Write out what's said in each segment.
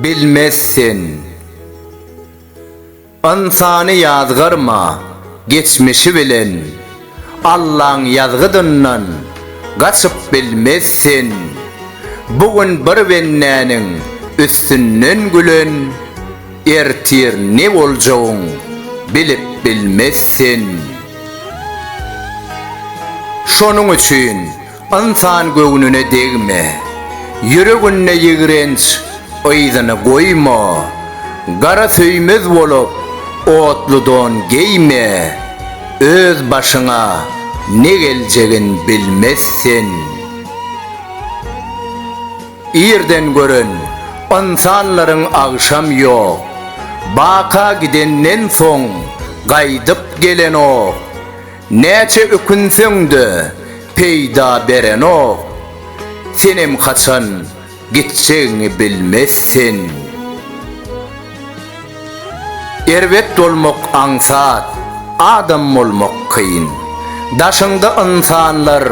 Bilmezsen. Ynsany ýazgarma geçmişi bilen. Allaň ýazgydyndan gaçyp bilmez sen. Bu gün bir bendäniň üstünden gülen, ertir ne boljagyň bilip bilmez sen. Şonuň üçin Ynsan göwnüne degme, ýüreginde ýigrenç yzyny goýma, gara söýmez bolup, otly don geýme, öz başyňa ne geljegin bilmez sen. Irden gören ynsanlaryň agşam ýok, baka gidenden soň gaýdyp gelenok. Näçe ökünseň-de, peýda berenok. Senem haçan gitjegiňi bilmez sen. Erbet bolmak aňsat, adam bolmak kyn. Daşyňda ynsanlar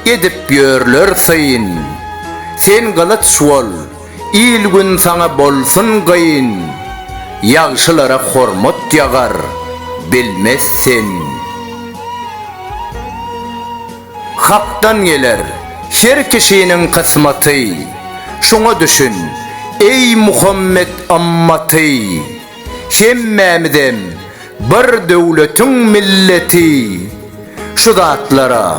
edip ýörler syn. Sen gylyç bol, Il-gün saňa bolsun gyn, Ýagşylara hormat ýagar, bilmez sen. Hakdan geler, her kişiniň kysmaty, Şuňa düşün, eý Muhammet ymmaty! Hemmämizem bir döwletiň milleti, Şu zatlara